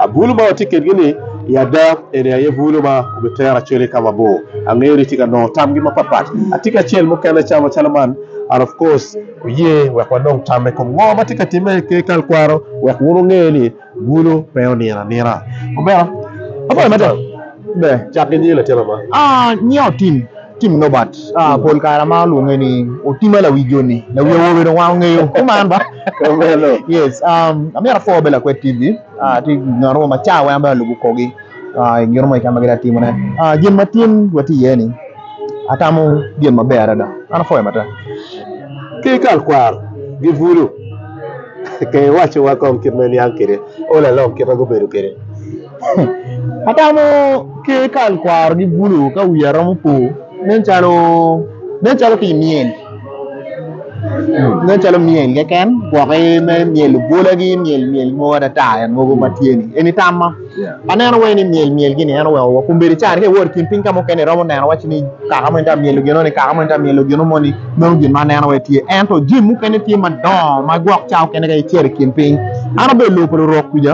Abulu ma watye kedgi-ni i ada eni aye bulu ma obitero Acholi ka mabor. Angeyo ni itye ka nongo tamgi mapatpat. Atye ki acel mukene ca macalo man, and of course wuye wek wanong tam me kom ngo ma tye ka timme ki tekwaro wek wun wunge ni bulu pe onino anina. Omera, abayi mada. Me, cak ki nyingi latin ama. Ah, nyinga Otim. Tim Norbert, pol kare amaro lwonge ni Otima lawi joni, lawi awobe dong wan ongeyo kuman ba. Yes, um, amyero apor bed lakwed TV, tye ngat mo ma ca weng an bene alubo kogi i gin mo keken ma gitye ka timone. Gin ma tin watye iye ni atamo gin maber adada, an apwoyo matek. Ki i kal kwaro gibulu ke iwacowa kong kit ma iniang kwede, olalong kit ma gubedo kwede. Atamo ki kal kwaro ki bulu ka wiya romo po nen calo nen calo ki myel nen calo myel keken gwoki me myel obwola gi myel myel mo adada en mogo ma tye ni eni tamma aneno wai ni myel myel gini en oweko wa kun bedi caro ka iwor i kin piny ka mukene iromo neno wacci ni kaka moni tye ka myelo gino ni kaka moni tye ka myelo gino moni meno gin ma aneno wai tye ento jami mukene tye madongo ma gwok ca mukene ka icito i kin piny an abedo i lobo pa lurok kwica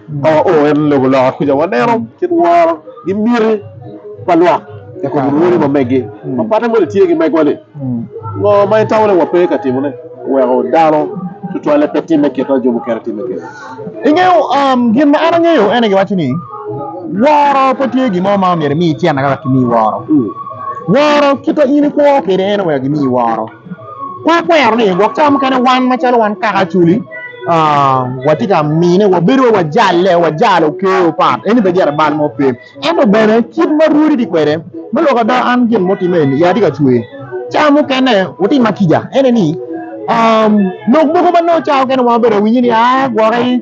Oo en lobo loka kuca waneno kit woro ki miti pa lwak i kom rwodi ma meggi. Ma patte moni tye ki megwa-ni, ngo ma itamo ni wape ka timone weko dano tutwalle pe timme kit ma jo mukene timme kwede? Ingeyo, gin ma an angeyo ene giwaco ni woro pe tye gin mo ma myero imi cente ka wek kimi woro. Woro kit ma in ikwo kwede ene wek gimi woro. Kor kwero ni gwok cawa mukene wan macalo wan kaka Acholi watye ka mine wabedo wai wajale wajalo ker opat en ni pe gire bal mo pe ento bene kit ma rwodi tye kwede me lok ada an gin mo time eni ya atye ka cwer cawa mukene wutim ma kica en ni lok mogo ma nongo cawa mukene wan wabedo awinyo ni aa gwoki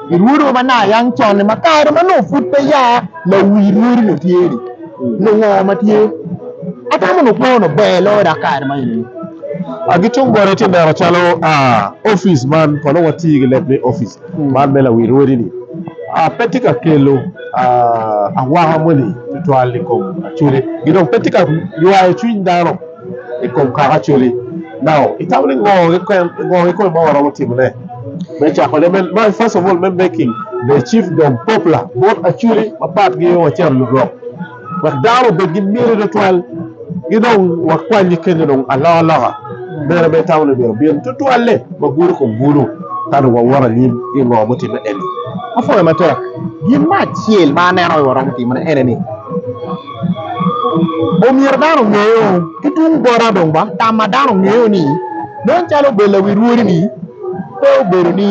I rwodowa ma nayang con-ni, ma kare ma nongo pud pe ya lawi rwodi ni tye-ni, nongo ngo ma tye? Atamo nongo kwo nongo ber loyo dok kare ma enini. Gi tung boti atye neno calo opic man kono wati ki leb ni opic man me lawi rwodi-ni pe tye ka kelo awaka moni tutwal i kom acwele, ki dong pe tye ka ywayo cwiny dano. i kom kaka acwali. Now itamo ni ngo keken ngo keken ma waromo timone me cakone me my first of all me making the chief dom popular bot acwali mapat gi wacito lurok wek dano obed gi miti tutwal gi dong wakwanyi kenyo dong aloka loka mere ma itamo ni myero obin tutwalle wagulu kom gulu ka dong wawoto anyim ki ngo mutimme eni. Apwoyo matek. Gin me acel ma aneno ni waromo timone ene ni Omyero dano ongeyo ki tung bota dong ba tam ma dano ngeyo ni nen calo obedo lawi rwodi ni pe obedo ni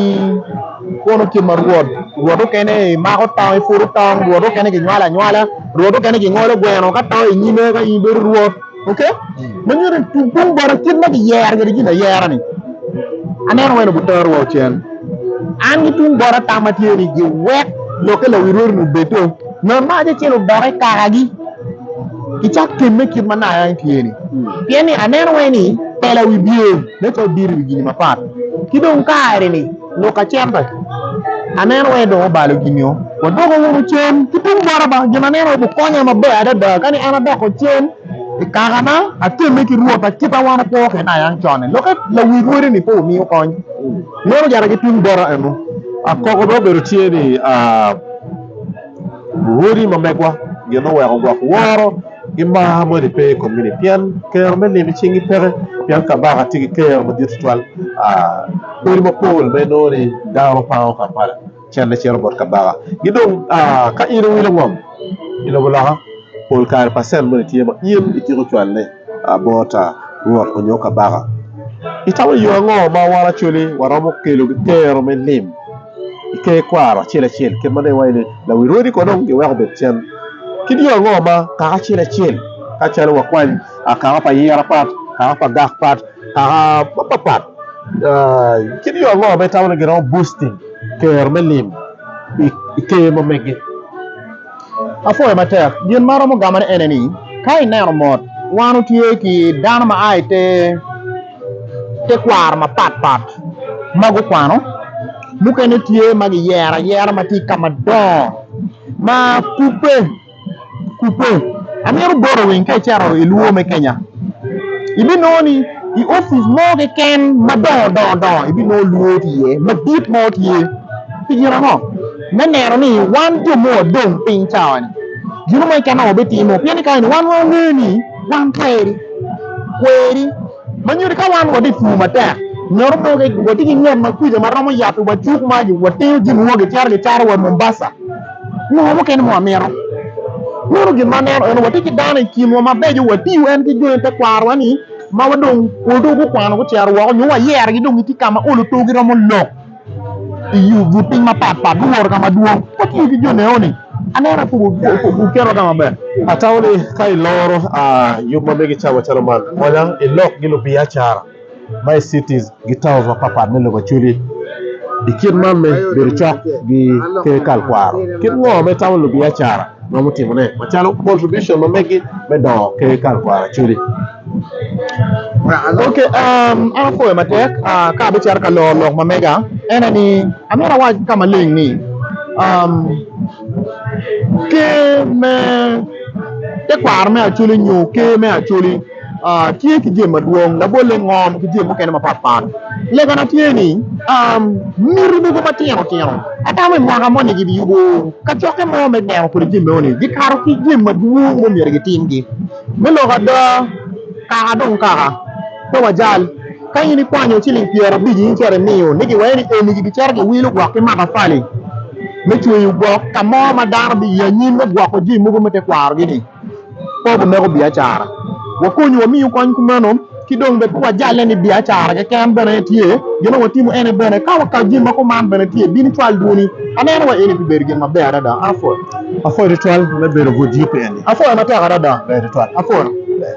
kono kit ma rwot rwot mukene mako tong ipuro tong rwot mukene ginywalo anywala rwot mukene gingolo gweno ka to inyime ka in ibedo rwot ok ma nyuto tung tung bota kit ma kiyero kede gin ayera ni aneno welo butoro wa ocen an ki tung bota tam ma tye ni giwek lokke lawi rwodi ni obedo ngat ma acel odoke kakagi kicak kemme kit ma naya ni tye ni pien ni aneno wai ni pela wi bye ne co diri wi gini mapat ki dong kare ni Luka cente, aneno wai dong obalo gin nyo wadoko wunu cen ki tung bota ba gin aneno wai bukonya maber adada kani an adoko cen i kaka na atemme ki rwot na kita wan wakwo kene aye an cone loke lawi rwodi ni pe omiyo kony meno jara ki tung bota enu akoko dong obedo tye ni aa Luwodi ma megwa gin oweko gwok woro ki mar moni pe i kom mini pien kero me nino cing gi peke pien kabaka tye ki kero madit tutwal kodi mapol ma inongo ni dano pango kampala cente cito bot kabaka ki dong ka in iwilo ngom i lobo loka pol kare pacen moni tye ma in ityeko cwale bot rwot onyo kabaka itamo yo ango ma wan acholi waromo kelo ki kero me lim. i ker kwaro acel acel kit ma iwaco ni lawi rwodi kono dong giweko obed cen ki dye ango ma kaka acel acel ka calo wakwany kaka pa ayira pat kaka pa gak pat kaka mapat pat ki dye ango ma itamo ni giromo busting kero me lim i ker ma mege. Apwoyo matek. Gin ma aromo gamone ene ni, ka ineno mot, wan otye ki dano ma a i te tekwaro mapat pat ma gukwano, mukene tye ma giyero ayera ma tye i ka madongo ma kubbe kubbe. Amito boti winy ka icito i lwor me Kenya, ibinongo ni i opic mo keken madongo dongo ibinongo lwor tye iye, madit mo tye. Pi gin ango? me neno ni wan jo ma wadong piny cawani gino mo keken ma wabitimo pien ni kare-ni wan wangeyo ni wan kweri kweri ma nyuto ni ka wan watye pur matek nyoto mogo watye ki nget ma kwija ma romo yabbi wa cuk ma watingo jami wa gicito gicaro wa Mombasa nyo mukene ma wamito meno gin ma aneno eno watye ki dano i kinwa mabeco watiyo en ki jo tekwarwa ni ma wadong odong gukwano gucito woko nyo wayerogi dong gitye ka ma olo too giromo lok Iyo bur piny mapat pat guworo kama dwong watye ki jo leone aneno aye guketo ka maber. Atamo ni ka iloro yub ma mege ca macalo man konya ilok gi lubiacara ma i cities gi towns mapat pat me lobo acholi i kit man me bedo cok gi ker kal kwaro kit ngo ma itamo lubiacara romo timone macalo contribution ma megi me dongo ker kal kwaro acholi. Ok an apwoyo matek ka abicito ka loro lok ma mega en aye ni amyero awac ka maleng ni ker me tekwaro me acholi nyo ker me acholi tye ki jami madwong labolle ngom ki jami mukene mapat pat legana tye ni miti mogo matino tino atamo i mwaka moni gibiyubo kacokke mo me gero kwede jami meno ni gikato ki jami madwong ma omyero gitimgi. Me loko ada, kaka dong kaka, pe wajal. Ka in ikwanyo ciling pyera abic in cito imiyo ni giwee ni eni gibicito giwilo gwok ki matafali me cweyo gwok ka mo ma dano biye anyim me gwoko jami mogo me tekwarogi-ni, pe wumeko biacara. Wakonyi wamiyi kony kumeno. ki dong bene pe wajale ni biacara keken bene en tye gin ma watimo ene bene ka wakato jami ma kuman bene tye bino cwal dwoni aneno wa eni pi bedo gin maber adada apwoyo. Apwoyo tutwal me bedo but yugi eni apwoyo matek adada.